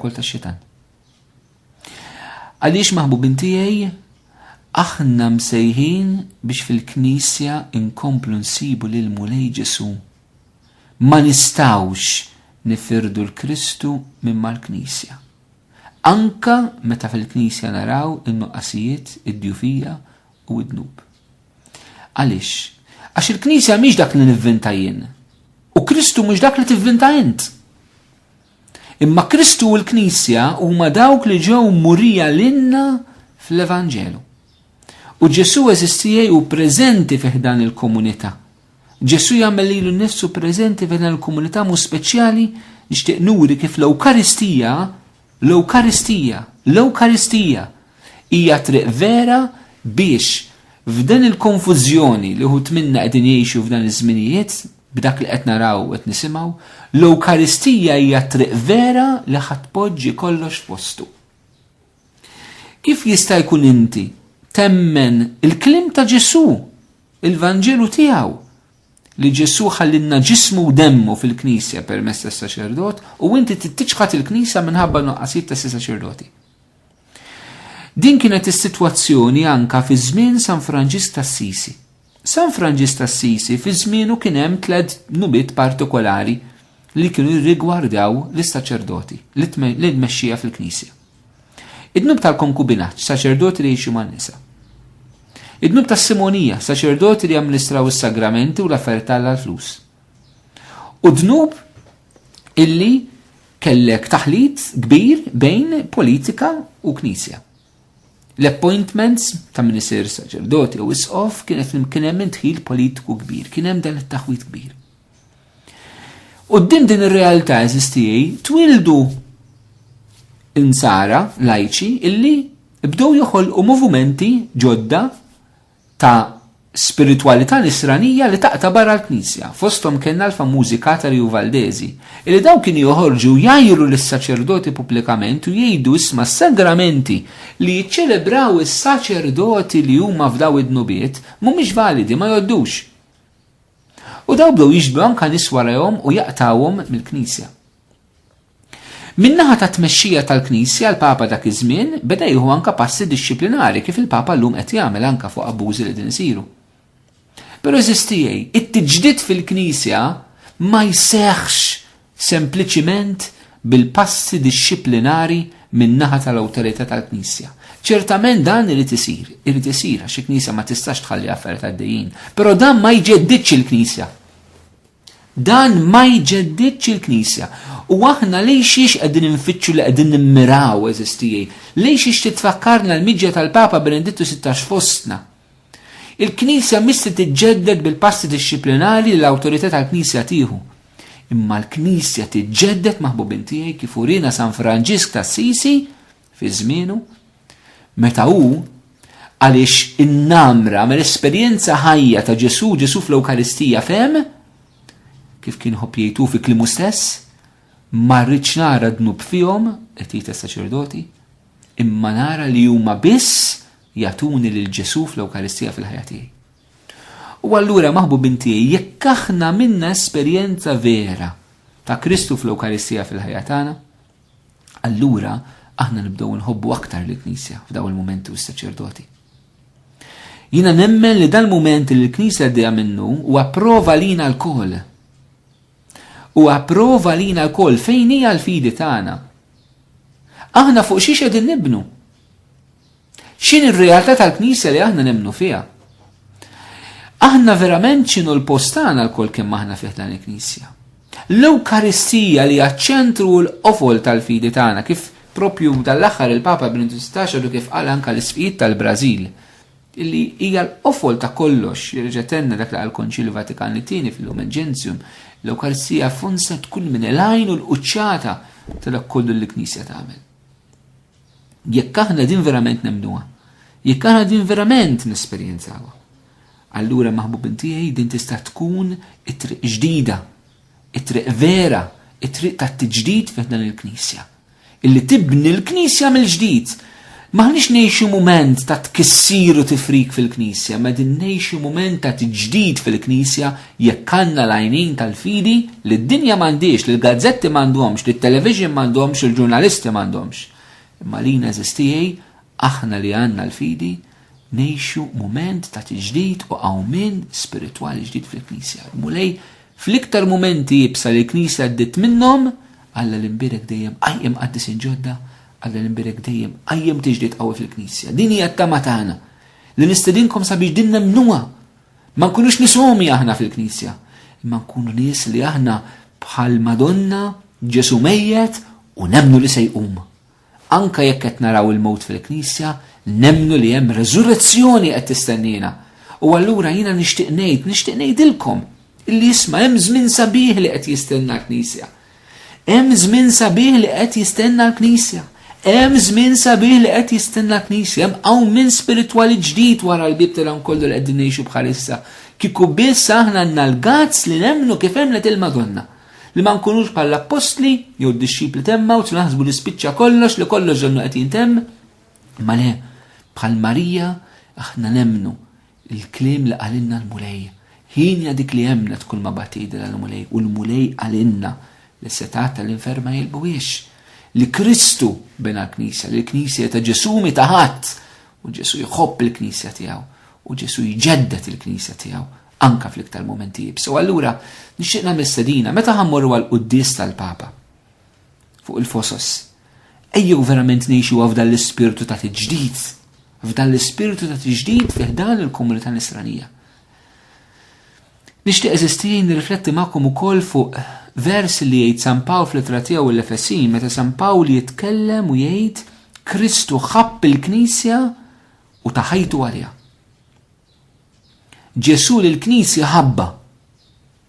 Kol ta' xitan. Għaliex maħbubin tiegħi aħna msejħin biex fil-Knisja inkomplu nsibu lil Mulej Ġesu. Ma nistawx nifirdu l-Kristu minn mal-Knisja. Anka meta fil-Knisja naraw in-nuqqasijiet, id-djufija u id-dnub. Għaliex? Għax il-Knisja mhix dak li nivvinta jien. U Kristu mhux dak li tivvinta int. Imma Kristu u l-Knisja huma dawk li ġew murija lilna fl-Evanġelu. U Ġesu eżistijaj u preżenti fi ħdan il-komunità. Ġesu jagħmel lilu nnifsu preżenti fi ħdan il-komunità mu speċjali nixtieq nuri kif l-Ewkaristija, l-Ewkaristija, l-Ewkaristija Hija triq vera biex f'din il-konfużjoni li wħud minna qegħdin jgħixu f'dan iż-żminijiet, b'dak li qed naraw u qed nisimgħu, l-Ewkaristija hija t-triq vera li ħa tpoġġi kollox f'postu. Kif jista' jkun inti temmen il-kliem ta' Ġesù, il-Vanġelu tiegħu, li Ġesù ħallilna ġismu u demmu fil-Knisja permezz tas-saċerdot u inti tittiċħad il-Knisja minħabba nuqqasijiet tas-saċerdoti? Din kienet is-sitwazzjoni anka fi żmien San Franġis tas-Sisi. San Franġis tas-Sisi fi żmienu kien hemm tliet nubiet partikolari li kienu jirrigwardaw lis-saċerdoti li tmexxija fil-Knisja. Id-dnub tal-konkubinaġġ, saċerdoti li jgħixu man-nisa. Id-dnub tas-simonija, saċerdoti li jamministraw is-sagramenti u l-affarijiet tal-flus. U dnub illi kellek taħlit kbir bejn politika u knisja. L-appointments ta' min isir saċerdoti u isqof kienet kien hemm intħil politiku kbir, kien hemm dan it-taħwit kbir. U din din ir-realtà eżistijaj twildu insara lajċi illi bdew joħolqu movimenti ġodda ta' spiritwalità nisranija li taqta' barra l-Knisja. Fosthom kellna l-famużi katari u valdesi, illi dawn kienu joħorġu u jgħajru lis-saċerdoti pubblikament u jgħidu isma' s-sagramenti li jiċċelebraw is-saċerdoti li huma f'daw id-dnubiet mhumiex validi, ma jgħoddux. U dawn bdew jiġbdu anke nies warajhom u jaqtgħuhom mill-Knisja. Min-naħa tat-tmexxija tal-Knisja, l-Papa dak iż-żmien beda jieħu anke passi dixxiplinari kif il-Papa llum qed jagħmel anke fuq abbużi li qegħdin isiru. Però eżisti għej, it-tiġdid fil-Knisja ma jseħħx sempliċiment bil-passi dixxiplinari min-naħa tal-awtorità tal-Knisja. Ċertament dan irid isir, irid isir għax il-Knisja ma tistax tħalli affarijiet għaddejjin, però dan ma jġeddidx il-Knisja. Dan ma jġeddidx il-Knisja. U aħna lejn xiex qegħdin infittxu li qegħdin nimmiraw, eżis tiegħi? Lejn xiex titfakkarna l-miġja tal-Papa Benedittu Sittax fostna? Il-Knisja mhix se tiġġedded bil-passi dixxiplinari li l-awtorità tal-Knisja tieħu. Imma l-Knisja tiġġedded maħbubin tiegħi kif urina San Franġisk t'Assisi fi żmienu, meta hu għaliex in-namra mill-esperjenza ħajja ta' Ġesu, Ġesu fl-Ewkaristija fem, kif kien ħobb jgħidu fi klimu stess, ma rridx nara dnub fihom, qed jgħid saċerdoti imma nara li huma biss jatuni lil Ġesu fl-Ewkaristija fil-ħajja tiegħi. U allura maħbu binti jekk aħna minna esperjenza vera ta' Kristu fl-Ewkaristija fil-ħajja tagħna, allura aħna nibdew nħobbu aktar lill knisja f'daw il-mumenti u s-saċerdoti. Jina nemmen li dal-mument li l-Knisja għaddejja minnu u approva lina l-kol. U approva lina l-kol fejn hija l-fidi tagħna. Aħna fuq xiex qegħdin nibnu. X'in ir-realtà tal-Knisja li aħna nemnu fiha? Aħna verament x'inhu l-post tagħna lkoll kemm aħna fih dan il-Knisja. L-Ewkaristija li għaċ-ċentru u l-qofol tal-fidi tagħna kif propju dal-aħħar il-Papa Benedittus Taxadu kif qal anka l-isfijiet tal-Brażil illi hija l-qofol ta' kollox, jirġetenna dak li għal konċil Vatikan li tieni fil-lum ġenzjum, l-Ewkaristija funsa tkun minn l-għajn u l-qċata ta' dak kollu l-Knisja tagħmel. Jekk aħna din verament nemnuha, jekk aħna din verament nesperjenzawa, allura maħbubin tiegħi din tista' tkun it-triq ġdida, it-triq vera, it-triq tat-tiġdid fih dan il-Knisja. Illi tibni l-Knisja mill-ġdid. Maħniex ngħixu mument ta' tkissir u tifrik fil-Knisja, ma din ngħixu mument ta' tiġdid fil-Knisja Jekk għandna l-għajnin tal-fidi, li d-dinja m'għandhiex, li l-gazzetti m'għandhomx, li t-television m'għandhomx, li l-ġurnalisti m'għandhomx. Imma lina għeżież tiegħi, aħna li għandna l-fidi, ngħixu mument ta' tiġdid u qawmien spiritwali ġdid fil-Knisja. Il-Mulej, fl-iktar mumenti iebsa li l-Knisja għaddiet minnhom, Alla li nbierek dejjem qajjem qaddisin ġodda, Alla li nbierek dejjem qajjem tiġdid qawwi fil-Knisja. Din hija t-tama tagħna, li nistedinkom sabiex din nemmnuha Ma nkunux nisomi aħna fil-Knisja, imma nkunu nies li aħna bħal Madonna Ġesu mejjet u nemnu li se jqum. Anka jekk qed naraw il-mewt fil-Knisja, nemnu li hemm reżurrezzjoni qed tistennina. U allura jiena nixtieq ngħid, nixtieq ngħidilkom illi jisma' hemm żmien sabiħ li qed jistenna l-Knisja. Hemm żmien sabiħ li qed jistenna l-Knisja. Hemm żmien sabiħ li qed jistenna l-Knisja. Hemm qawmien spiritwali ġdid wara l-bieb ta' dan kollu li qegħdin ngħixu bħalissa. Kieku biss aħna għandna l-gazz li nemmnu kif emmnet il-Madonna. Li ma nkunux bħall-appostli jew d-dixxipli temmgħux naħsbu li spiċċa kollox li kollox donnu qed jintemm. Ma le, bħal Marija aħna nemmnu Il-kliem li qalilna l-Mulej. Ħin hija dik li emmnet kulma bagħtidilha l-Mulej u l-Mulej qalilna li s-setgħat tal-infern ma jilbuhiex. Li Kristu bena l-Knisja, li l-Knisja hi ta' Ġesù mhi ta' ħadd u Ġesù jħobb il-Knisja tiegħu u Ġesù jġedded il-Knisja tiegħu anke fl-iktar mumenti iebsa. U allura nixtieq nagħmel stedina, meta ħa mmorru għall-quddies tal-Papa, fuq il-fosos. Ejjew verament ngħixu f'dan l-ispirtu ta' tiġdid, f'dan l-ispirtu ta' tiġdid fih dan il-komunità nisranija. Nixtieq eżistijin nirrifletti magħkom ukoll fuq vers li jgħid San Pawl fl-ittra tiegħu l-Efesin meta San Pawl jitkellem u jgħid Kristu ħabb il-Knisja u taħajtu għaliha. Ġesu l-Knisja ħabba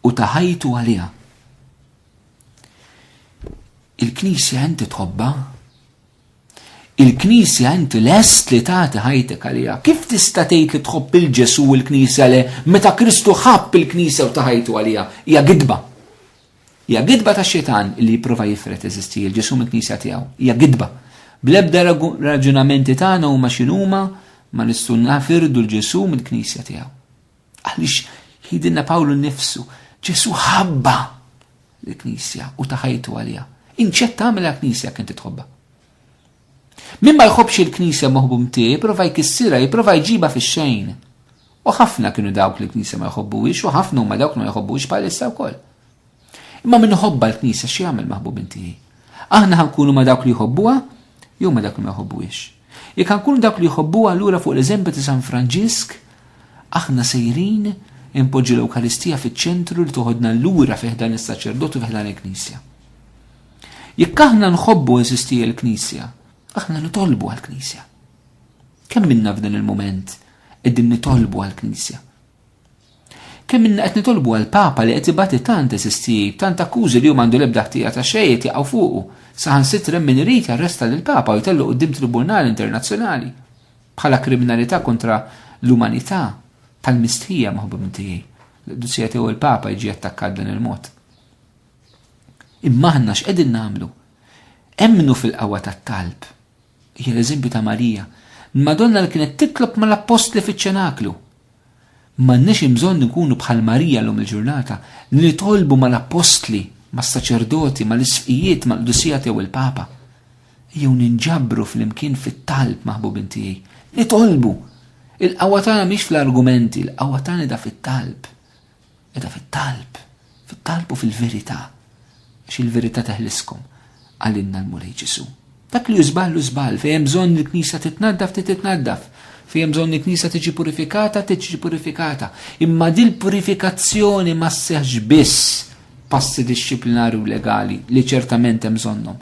u ta ħajtu għaliha. Il-Knisja inti tħobba? Il-Knisja inti lest li tagħti ħajtek għaliha. Kif tista' tgħid li tħobb il-Ġesu u l-Knisja le meta Kristu ħabb il-Knisja u ta ħajtu għaliha? Hija gidba. Hija gidba ta' xitan li jipprova jifret eżisti il-Ġesu mill-Knisja tiegħu. Hija gidba. Bl-ebda raġunamenti tagħna huma x'inhuma ma nistgħu nafirdu l-Ġesu mill-Knisja tiegħu. Għaliex jgħidilna Pawlu nnifsu, Ġesu ħabba l-Knisja u ta' ħajtu għaliha. Inċed tagħmilha Knisja kien titħobba. Min ma jħobbx il-Knisja moħbu mtiegħi, jipprova jkissirha, jipprova jġibha fix-xejn. U ħafna kienu dawk li l-Knisja ma jħobbuhiex u ħafna huma dawk li ma jħobbuhiex bħalissa wkoll. Imma min iħobbha l-Knisja x'jagħmel maħbubin tiegħi? Aħna ħa nkunu ma' dawk li jħobbuha jew ma' dawk li ma jħobbuhiex? Jekk ħa nkunu dawk li jħobbuha allura fuq l-eżempju ta' San Franġisk aħna sejrin inpoġġu l-Ewkaristija fiċ-ċentru li toħodna lura fih dan is-saċerdot u fih dan il-Knisja. Jekk aħna nħobbu eżisti l-Knisja, aħna nitolbu għall-Knisja. Kemm minna f'dan il-moment qegħdin nitolbu għall-Knisja? Kemm ilna qed nitolbu għal Papa li qed ibati tant eżistijib, tant akkużi li hu m'għandu l-ebda ħtija ta' xejn qed jaqgħu fuqu, saħansitra hemm min irid jarresta lill-Papa u jtellu quddiem tribunal internazzjonali bħala kriminalità kontra l-umanità tal-mistħija maħbubin tiegħi li qdusija tiegħu l-Papa jiġi attakkat dan il-mod. Imma aħna x'qegħdin nagħmlu? Emmnu fil-qawwa tat-talb. Hija l-eżempju ta' Marija, l-Madonna li kienet titlob mal-appostli fiċ-ċenaklu. M'għandniex imbżonn inkunu bħal Marija llum il-ġurnata, li nitolbu mal-appostli, mas-saċerdoti, mal-isqfijiet, mal-qdusijat jew il-Papa. Ejjew ninġabru flimkien fit-talb, maħbubin tiegħi. Nitolbu! Il-qawwa tagħna mhix fl-argumenti, il-qawwa tagħna da fit-talb. Meta fit-talb, fit-talb u fil-verità, għax il-verità teħliskom, qalilna l-Mulej Ġesù. Dak li hu żball hu żball, fejn hemm bżonn il-Knisja titnaddaf trid titnaddaf, fejn hemm bżonn il-Knisja tiġi purifikata tiġi purifikata. Imma dil-purifikazzjoni ma sseħħx biss passi dixxiplinari u legali li ċertament hemm bżonnhom,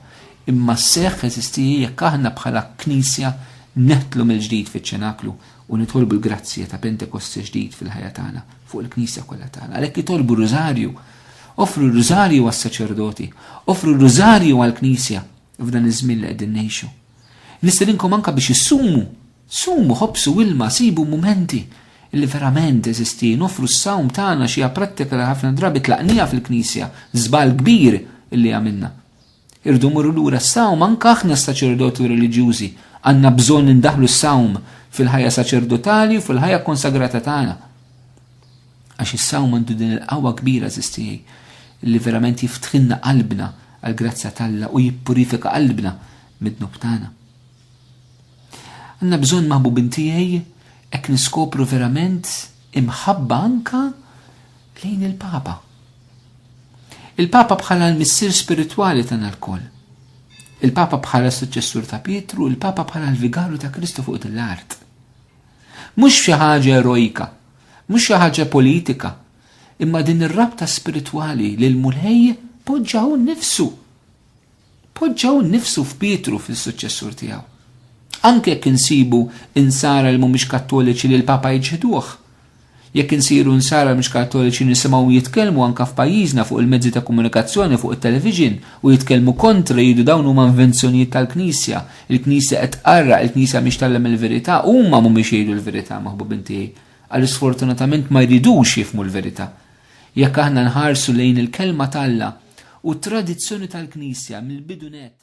imma sseħħ eżisti jekk aħna bħala Knisja neħtlu mill-ġdid fiċ-ċenaklu u nitolbu l-grazzja ta' Pentekoste ġdid fil-ħajja tagħna, fuq il-Knisja kollha tagħna. Għalhekk itolbu r-Rużarju, offru r-Rużarju għas-saċerdoti, offru r-Rużarju għall-Knisja f'dan iż-żmien li qegħdin ngħixu. Nistedinkom anke biex issumu, sumu ħobsu ilma, sibu mumenti li verament eżisti, nofru s-sawm tagħna xi prattika li ħafna drabi tlaqnija fil-Knisja, żball kbir illi għamilna. Irridu mmorru lura s-sawm, anke aħna saċerdoti u reliġjużi għandna bżonn indaħħlu s-sawm fil-ħajja saċerdotali u fil-ħajja konsagrata tagħna. Għax is-sawm għandu din il-qawwa kbira żiż tiegħi li verament jiftħilna qalbna għall-grazzja t'Alla u jippurifika qalbna mid-dnub tagħna. Għandna bżonn maħbubin tiegħi hekk niskopru verament imħabba anke lejn il-Papa. Il-Papa bħala l-missier spiritwali tagħna lkoll. Il-Papa bħala s-suċċessur ta' Pietru, il-Papa bħala l-vigaru ta' Kristu fuq din l-art. Mhux xi ħaġa erojka, mhux xi ħaġa politika, imma din ir-rabta spiritwali li l-Mulej poġġa hu nnifsu Poġġew innifsu f'Pietru fl-issuċċessur tiegħu. Anke jekk insibu Insara li mhumiex Kattoliċi li l-Papa jiċħduh. Jekk insiru Insara li mhux Kattoliċi nisimgħuhom jitkellmu anke f'pajjiżna fuq il-mezzi ta' komunikazzjoni fuq it-television u jitkellmu kontra jgħidu dawn huma invenzjonijiet tal-Knisja, il-Knisja qed tqarraq, il-Knisja mhix tgħallem il-verità, huma mhumiex jgħidu l-verità maħbubin tiegħi għaliex sfortunatament ma jridux jifhmu l-verità. Jekk aħna nħarsu lejn il-Kelma t'Alla u t-tradizzjoni tal-Knisja mill-bidu nett,